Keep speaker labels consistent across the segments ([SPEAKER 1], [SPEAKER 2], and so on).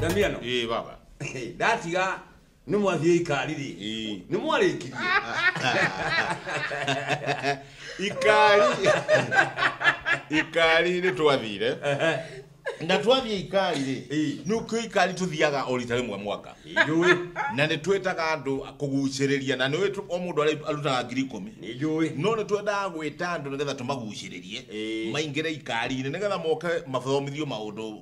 [SPEAKER 1] Damiano. Eh baba. Ndatiga nĩ mwathiĩ ikari rĩ. Eh. Nĩ mwarĩkirie. Ikari. Ikari nĩ twathire. Na twathiĩ ikari rĩ. Eh. Nĩ kũ ikari tũthiaga o rita rĩmwe mwaka. Nĩjũĩ. Na nĩ twĩtaga andũ kũgucĩrĩria na nĩ o mũndũ arĩ- arutaga ngiri ikũmi. Nĩjũĩ. No nĩ twendaga gwĩta andũ nĩgetha tũmagucĩrĩrie Eh. maingĩre ikari-inĩ nĩgetha moke mathomithio maũndũ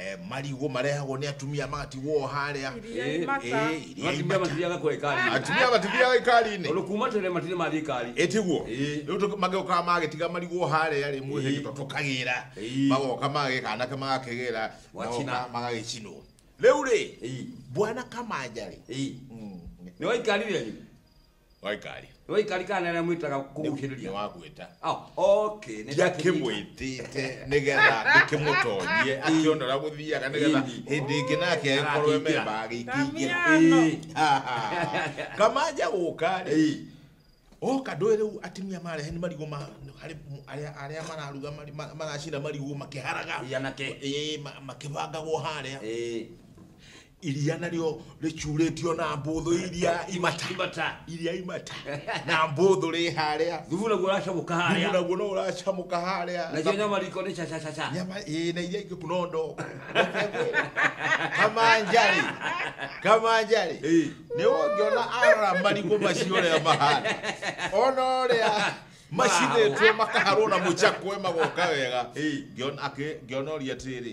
[SPEAKER 1] eh, marigũ marehagwo nĩ atumia magatigwo harĩa Iriia-inĩ mata. Eh, iria atumia imata. matithiaga kwa ikari atumia matithiaga ikari-inĩ tondå kuma tene matirä mathiä ikari ĩtiguo Ĩĩ. rĩu tũ- magĩũkaga magĩtiga marigũ harĩa rĩ mwĩhĩ Ĩĩ. tũkagĩra Ĩĩ. magoka magĩka anake magakĩgĩra Wachina. magoka magagĩcinwo rĩu rĩ Ĩĩ. bwana kamanja rĩ Ĩĩ. nä waikari rä waikari waikari kana nä rä a mwä taga kå gucä rä ria nĩwagwĩta ndiakĩmwĩtĩte nĩgetha ndĩkĩmũtonyie akĩona ũrĩa gũthiaga nĩgetha Ĩni. hĩndĩ ĩngĩ nake akorwo Agakĩingĩra. memba agĩkĩingĩra Damiano. kamanja gũka rĩ oka ndũĩ rĩu atumia marehe nĩ marigũ ma harĩ mu- arĩa arĩa mararuga mari- ma- maracina marigũ makĩharaga anake Ĩĩ, ma- makĩbangagwo harĩa iria narĩo rĩcurĩtio na mbũthũ iria imata imata iria imata na mbũthũ rĩ harĩa thubu naguo ũracamũka thubu harĩa naguo no ũracamũka harĩa nacio nyama riko nĩ cacacaca nyama ĩ na iria ingĩ kuno ndo kamanjarĩ kamanjarĩ Ĩĩ. nĩ ũngĩona ara marigũ macio ũrĩa mahana ona ũrĩa macinĩtwo makaharwo na mũcakwe magoka wega Ĩĩ. Ngĩona- akĩ- ngĩona ũria atĩrĩ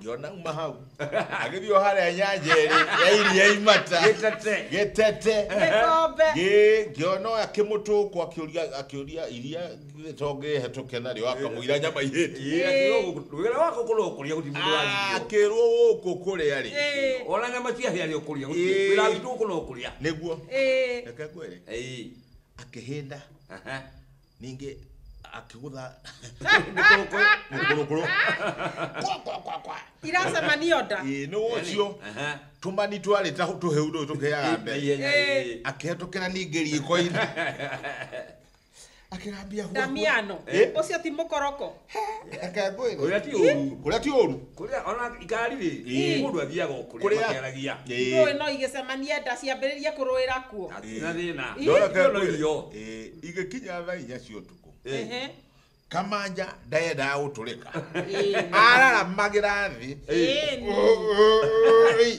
[SPEAKER 1] ngĩona uma hau agĩthiĩ o harĩa nyanja ĩrĩ ya iria imata Gĩtete. gĩtete Gĩkombe. Ngĩ- ngĩona ũyũ akĩmũtũkwo akĩũria akĩũria iria gĩtonge hetũke narĩo akamũira nyama ihĩti wĩra wako kũrĩa ũkũrĩa gũtirĩ mũndũ waririo akĩrwo gũkũ kũrĩa rĩ Ĩĩ. ona nyama cia hĩa rĩa ũkũrĩa Ĩĩ. wĩra witũ gũkũ no ũkũrĩa nĩguo Ĩĩ. reke ngwĩre Ĩĩ. akĩhĩnda Aha. ningĩ akĩgũtha mĩkũrũkũrũ mĩkũrũkũrũ kwa kwa kwa kwa iracemanio nda ĩĩ nĩ wocio Aha. tũmani twarĩ ta tũhĩu tũu tũkĩaga mbere Ihenya, Eh. eh. akĩhetũkĩra ningĩ riko-inĩ akĩrambia huaku. ndamiano Eh? ũcio ti mũkoroko Reke ngwĩre. Kũrĩa ti ũru. Kũrĩa ti ũru. Kũrĩa ona ngari rĩ, Ĩĩ. mũndũ athiaga o kũrĩa Kũrĩa- makĩaragia. Ndũĩ Ĩĩ. no igĩcemanie nda ciambĩrĩrie kũrũĩra kuo Na ti na thĩna. Ĩĩ. No reke Irio no ngwĩre. irio. Ĩĩ, Igĩkinya thaa inya cia ũtukũ. Ehe. Kamanja ndayendaga gũtũrĩka. Ĩĩ. Araramagĩra thĩ. Ĩĩ. Ĩĩ,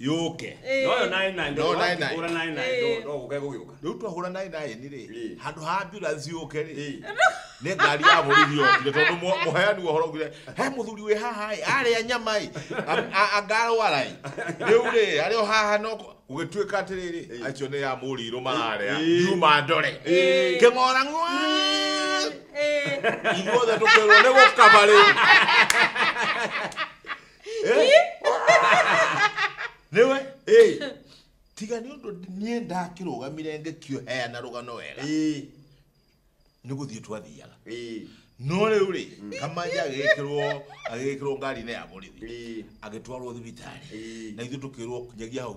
[SPEAKER 1] yũke Ĩĩ. No yo naĩ naĩ No naĩ naĩ. ndũra naĩ naĩ Ĩĩ. no gũke gũgĩũka. rĩu twahũra naĩ naĩ nĩ rĩ Ĩĩ. handũ ha ambulance yũke rĩ Ĩĩ. nĩ ngari ya borithi yokire tondũ mu- mũheani wa ũhoro ugire he mũthuri wĩ haha ĩ arĩa nyama ĩ a- a- angarwara ĩ rĩu rĩ arĩ o haha no kũ- gũgĩtuĩka atĩrĩrĩ Ĩĩ. acio nĩ ya mũrirũ mararĩa Ĩĩ. yuma ndore Ĩĩ. kĩng'ora ng'wa Ĩĩ. ithuothe tũkĩrwo nĩ gũkaba rĩu nĩwe Ĩĩ, tiga nĩ ũndũ niĩ ndakĩrũgamire ngĩkĩheana rũgano wega ĩĩ, nĩ gũthiĩ twathiaga ĩĩ, no rĩu rĩ kamanja agĩkĩrwo agĩkĩrwo ngari-inĩ ya borithi ĩĩ, agĩtwarwo thibitarĩ ĩĩ. na ithuĩ tũkĩrwo nyagia hau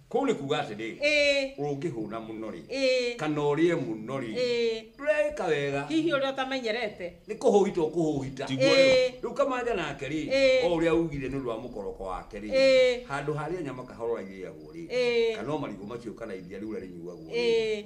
[SPEAKER 1] Kũu nĩ kuuga atĩrĩ, Ĩĩ. ũngĩhũna mũno-rĩ, Ĩĩ. kana ũrĩe mũno-rĩ, Ĩĩ. ndũreĩka wega, Hihi ũrĩa ũtamenyerete. nĩ kũhũhita ũkũhũhita. Tiguo rĩu. Ĩĩ. Rĩu kamanja nake-rĩ, Ĩĩ. o ũrĩa ugire nĩ ũndũ wa mũkoroko wake-rĩ, Ĩĩ. handũ harĩa nyama kahora irĩagwo-rĩ, Ĩĩ. kana o marigũ macio kana iria rĩu ũrĩa rĩnyuagwo-rĩ, Ĩĩ.